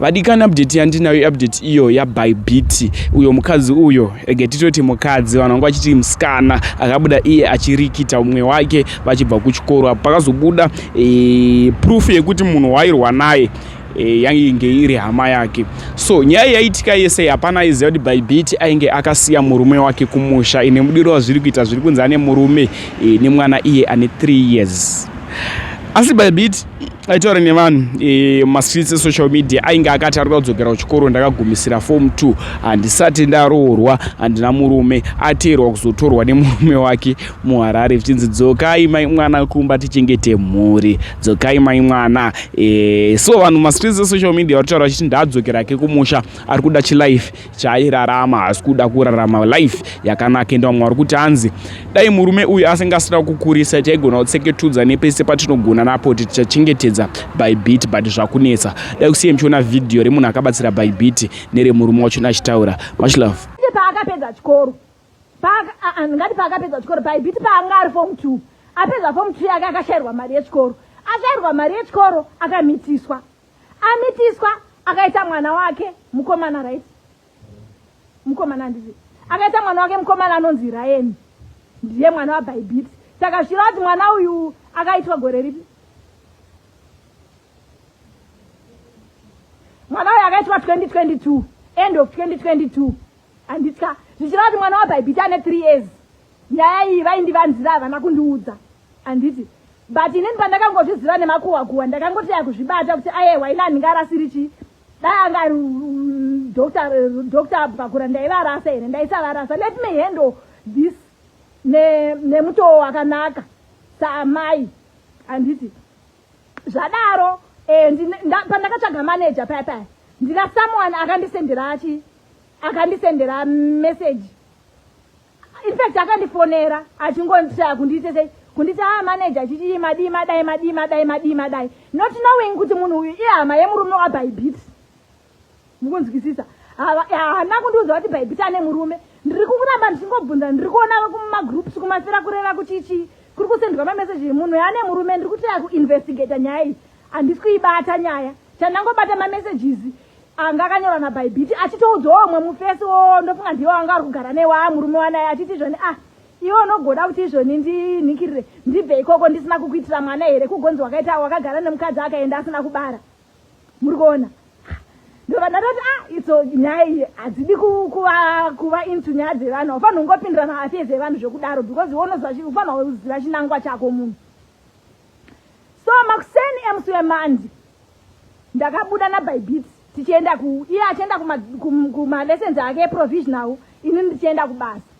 vadikana update yandinayo iupdate iyo yabybeat uyo mukadzi uyo rege titoti mukadzi vanhu vanga vachiti musikana akabuda iye achirikita umwe wake vachibva kuchikoro apo pakazobuda e, proof yekuti munhu wairwa naye e, yainge iri hama yake so nyaya yaitika yese hapana aiziva kuti bybeat ainge akasiya murume wake kumusha ine mudiro wazviri kuita zviri kunzi ane murume e, nemwana iye ane 3 years asi bybeat aitaura nevanhu e, mastreets esocial media ainge akati ari kuda kudzokera kuchikoro ndakagumisira form two handisati ndaroorwa handina murume ateerwa kuzotorwa nemurume wake muharare zvichinzi dzokai mai mwana kumba tichengete mhuri dzokai mai mwana e, so vanhu mastreets esocial media vari kutaura vachiti ndaadzokera ke kumusha ari kuda chilife chaairarama haasi kuda kurarama life yakanaka ende vamwe vari kuti hanzi dai murume uyu asingasina kukurisa taigona kutseketudza nepese patinogona napo kuti tichachengetedza by bit but zvakunetsa dai kusiye muchiona vhidhiyo remunhu akabatsira by bit neremurume wachona achitaura much love paakapedza chikoro ndingati paakapedza chikoro by bit paanga ari fom t apedza fom t yake akashayirwa mari yechikoro ashayirwa mari yechikoro akamitiswa amitiswa akaita mwana wake mukomana right mukomana anditi akaita mwana wake mukomana anonzi ryan ndiye mwana wabaibiti saka zvira kuti mwana uyu akaitwa gore ripi mwana uyu akaitwa 2022 end of 2022 anditya zvichira kuti mwana wabaibiti ane three years nyaya iyi vaindivanzira havana kundiudza anditi but inini pandakangozviziva nemakuhwa kuhwa ndakangoti yakuzvibata kuti ayewa ini andinga rasiri chii dai anga doctor doctor bvakura ndaivarasa here ndaisavarasa let me handle this nemutoo ne wakanaka saamai handiti zvadaro eh, pandakatsvaga manager paya paya ndina someone akandisendera achi akandisendera message infact akandifonera achingonditaya kundiite sei kunditi haa ah, maneja achiti madii madai madii madai madii madai not knowing kuti munhu uyu ihama yemurume wabaibit mukunzwisisa haana kundiudza kuti baibit ane murume ndiri kukuramba ndichingobvunza ndiri kuona kumagroups kumafira kureva kuti chii kuri kusendwa mameseji munhu yaane murume ndiri kutaya kuinvestigata nyaya iyi handisi kuibata nyaya chandangobata mamessages anga akanyora nabhaibhiti achitoudza wamwe mufesi wo ndofunga ndiwo anga ari kugara newa murume wanaye achiti izvoni ah iwe unogoda kuti izvoni ndinikirire ndibve ikoko ndisina kukuitira mwana here kugonzi wakaita wakagara nemukadzi akaenda asina kubara muri kuona ndobva ndatoti a ah, itso nyaya iyi hadzidi kuva into nyaya dzevanhu haufanhi ungopindirana afee dzevanhu zvekudaro because unoziva ufanha uziva chinangwa chako munhu so makuseni emusi wemandi ndakabuda nabybeat tichienda ku iye achienda kumalessons ake eprovisional ini ndichienda kubasa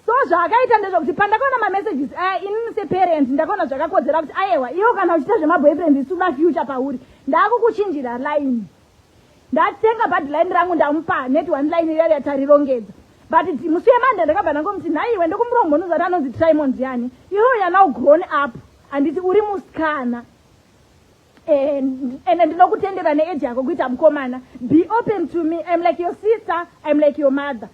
so zvaakaita ndezvekuti pandakaona mamessages aya eh, inini separent ndakaona zvakakodzera kuti ayewa iwo kana uchiita zvemaboyfriend isuna future pauri ndaakukuchinjira line ndatenga bhadhi line rangu ndamupa neti one line iya yatarirongedza but musi wemande ndakabva ndangomuti nhaiwe ndokumuromo unozati anonzi trimon ndiani iwo yana ugrown up handiti uri musikana eh, ende ndinokutendera neeji yako kuita mukomana be open to me im like your sister im like your mother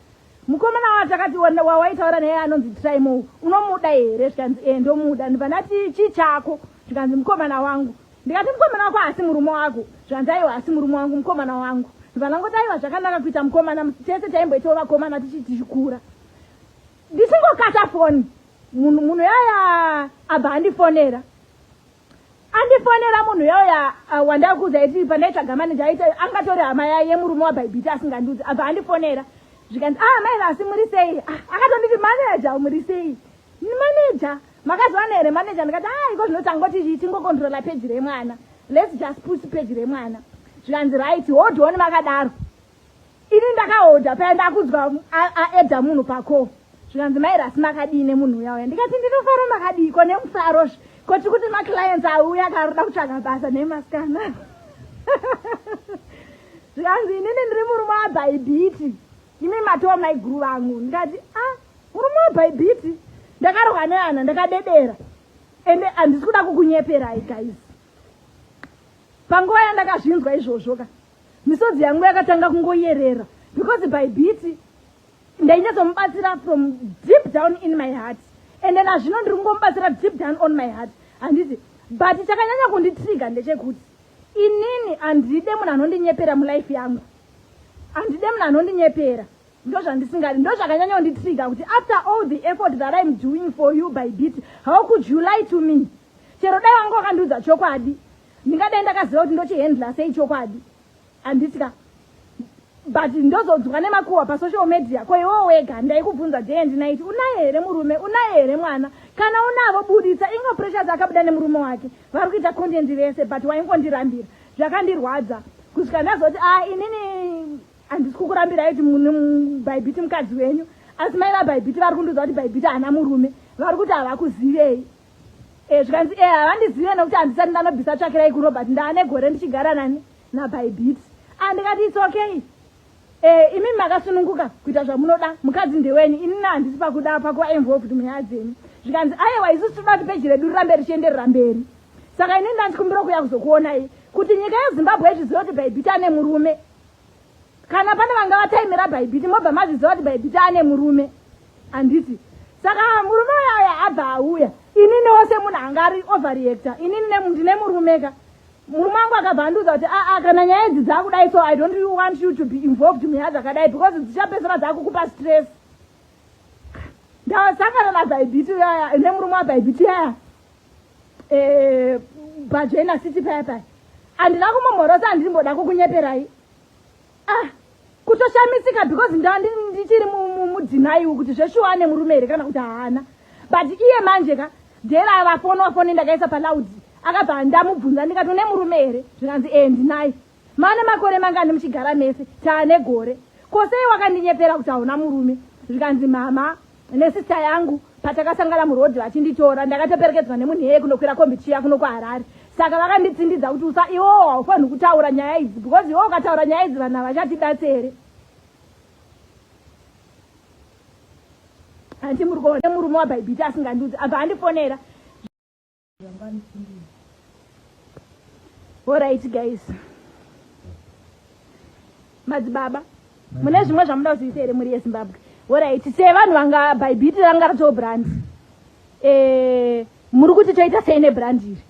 mukomana wa takati wawaitaura naye anonzi trimo unomuda here zvikanzi e ndomuda ndibva ndati chii chako zvikanzi mukomana wangu ndikati mukomana wako haasi murume wako zvanzi aiwa haasi murume wangu mukomana wangu vanangoti aiwa zvakanaka kuita mukomana tese taimboitawo vakomana tichi tichikura ndichingokata foni munhu munhu yaya abva andifonera andifonera munhu yaya uh, wandakuza iti pandaitsvaga maneja aita angatori hama yaye yemurume wabhaibhiti asingandiudzi abva andifonera zvikanzi ah maizasi muri sei ah, akatonditi maneja muri sei Manager, makazowana here manager? Ndikati ah, iko zvinoti angoti tingokontrola peji remwana. Let's just push peji remwana. Zvikanzi right, hold on vakadaro. Ini ndakahodha paya ndakudzwa aedha munhu pako. Zvikanzi mai rasi makadii nemunhu uya uya. Ndikati ndinofara makadii ko nemufaro zvi. Ko tiri kuti maclients auya akaroda kutsvaga basa nemasikana. Zvikanzi inini ndiri murume wabhaibhiti. imi matoo maiguru vangu ndikati a ah, murume webhaibhiti ndakarohwa neana ndakadedera ende handisi kuda kukunyeperai guys panguva yandakazvinzwa izvozvo ka misodzi yangu yakatanga kungoyerera because bhaibhiti ndainyatsomubatsira from deep down in my heart and then azvino ndiri kungomubatsira deep down on my heart handiti but chakanyanya kunditriga ndechekuti inini handide munhu anondinyepera mulife yangu handide munhu anondinyepera ndozvandisingadi ndozvakanyanya kunditriga kuti after all the effort that im doing for you by bit how could you lie to me chero dai wanga wakandiudza chokwadi ndingadai ndakaziva kuti ndochihandla sei chokwadi handitika but ndozonzwa nemakuhwa pasocial media ko iwo wega ndaikubvunza day and night unaye here murume unaye here mwana kana unavo buditsa ingo pressures akabuda nemurume wake vari kuita content vese but waingondirambira zvakandirwadza kusvika ndazoti a ah, inini handisi kukurambirai kuti mune bhaibhiti mukadzi wenyu asi mai vabhaibhiti vari kundiudza kuti bhaibhiti haana murume vari kuti havakuzivei e, zvikanzi e havandizive nokuti handisati ndanobvisa tsvakirai kurobert ndaane gore ndichigara nani nabhaibhiti andikati ah, its okay Eh, imi makasununguka kuita zvamunoda mukadzi ndeweni inina handisi pakuda pakuva involved munyaya dzenyu zvikanzi ayewa isu tinoda kuti peji redu rirambe richienderera mberi saka ini ndandikumbira kuuya kuzokuonai kuti nyika yezimbabwe izviziva kuti bhaibhiti ane murume kana pane vanga vataimira bhaibhiti mobva mazviziva kuti bhaibhiti ane murume handiti saka murume uyaya abva auya inini wose munhu anga ari overreactor inini ndine murumeka murume wangu akabva andiudza kuti aa ah, ah, kana nyaya idzi dzakudai so i don't really want you to be involved munyaya dzakadai because dzichapedzera dzakukupa stress ndasangana nabhaibhiti yaya nemurume wabhaibhiti yaya eh, bhajoina city paya paya handina kumomhorosa handimboda kukunyeperai ah kutoshamisika because ndandi ndichiri mudzinaiwo kuti zveshuwa ane murume here kana kuti haana but iye manje ka dera avafoni wafoni ndakaisa palaudi akabva ndamubvunza ndikati une murume here zvikanzi ee eh, ndinaye mane makore mangani muchigara mese taane gore kosei wakandinyepera kuti hauna murume zvikanzi mama nesista yangu patakasangana muroad vachinditora ndakatoperekedzwa nemunhu iyeye kunokwira kombi chiya kuno kuharare saka vakanditsindidza kuti usa iwowo haufanhi kutaura nyaya idzi because iwowo ukataura nyaya idzi vanhu havachatibatsi here handi muri kuona murume wabhaibhiti asingandiudzi apa handifonera Alright guys. Madzibaba, mune zvimwe zvamuda kuziisa here muri yeZimbabwe? Alright, sevanhu vanga bhaibhiti ranga ratoo brand. Eh, muri kuti toita sei nebrand iri?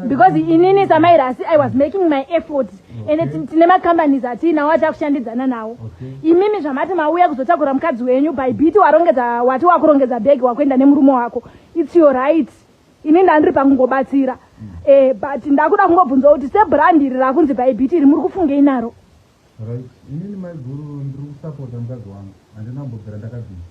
because inini samairasi i was making my effort ende tine macompanies atiinawo atakushandidzana nawo imimi zvamati mauya kuzotakura mukadzi wenyu by bit warongedza wati wakurongedza bhegi wakuenda nemurume wako its your right ini ndandiri pakungobatsira mm. eh, but ndakuda kungobvunza kuti sebrand iri rakunzi bybit iri muri kufungei naro right inini maiguru ndiri kusapota mukadzi wangu handina kumbobvira ndakabvira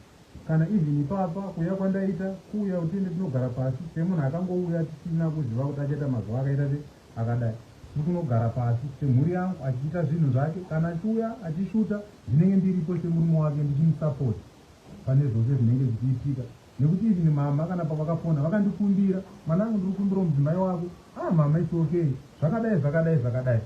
kana even ipapa kuuya kwandaita kuuya kuti ende tinogara pasi semunhu akangouya tisina kuziva kuti achaita mazuva akaita se akadai ndikunogara pasi semhuri yangu achiita zvinhu zvake kana achiuya achishuta ndinenge ndiripo semurume wake ndichimusapota pane zvose zvinenge zvichiitika nekuti even mama kana pavakafona vakandikumbira mwana angu ndiri kukumbirawo mudzimai wako a ah, mama its okay zvakadai zvakadai zvakadai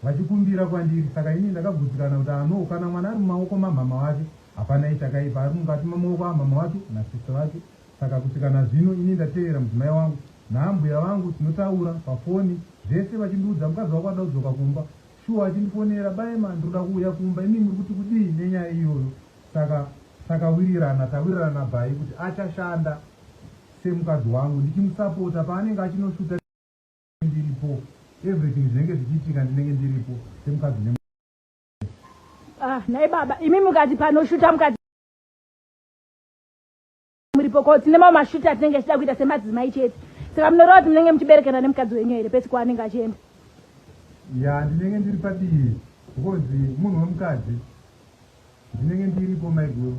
vachikumbira kwandiri saka ini ndakagutsikana kuti ano ah, kana mwana ari mumaoko mamama wake hapana ichakaipa ari mukati mamaoko amama wake nasisa vake saka kusvikana zvino ini ndateerera mudzimai wangu naambuya vangu tinotaura pafoni zvese vachindiudza mukadzi wako ada kudzoka kumba Shuwa chindifonera Baema ndinoda kuuya kumba imi muri kuti kudii nenyaya iyoyo saka takawirirana tawirirana Bae kuti achashanda semukadzi wangu ndichimusapota paanenge achinoshuta ndiripo everything zvinenge zvichiitika ndinenge ndiripo semukadzi ne Ah, nhai baba imi mukati panoshuta mukati muripo ko tine mamwe mashuti atinenge tichida kuita semadzimai chete saka munoreva kuti munenge muchiberekana nemukadzi wenyu here pese kwaanenge achienda ya ndinenge ndiri padivi because munhu wemukadzi ndinenge ndiripo maiguru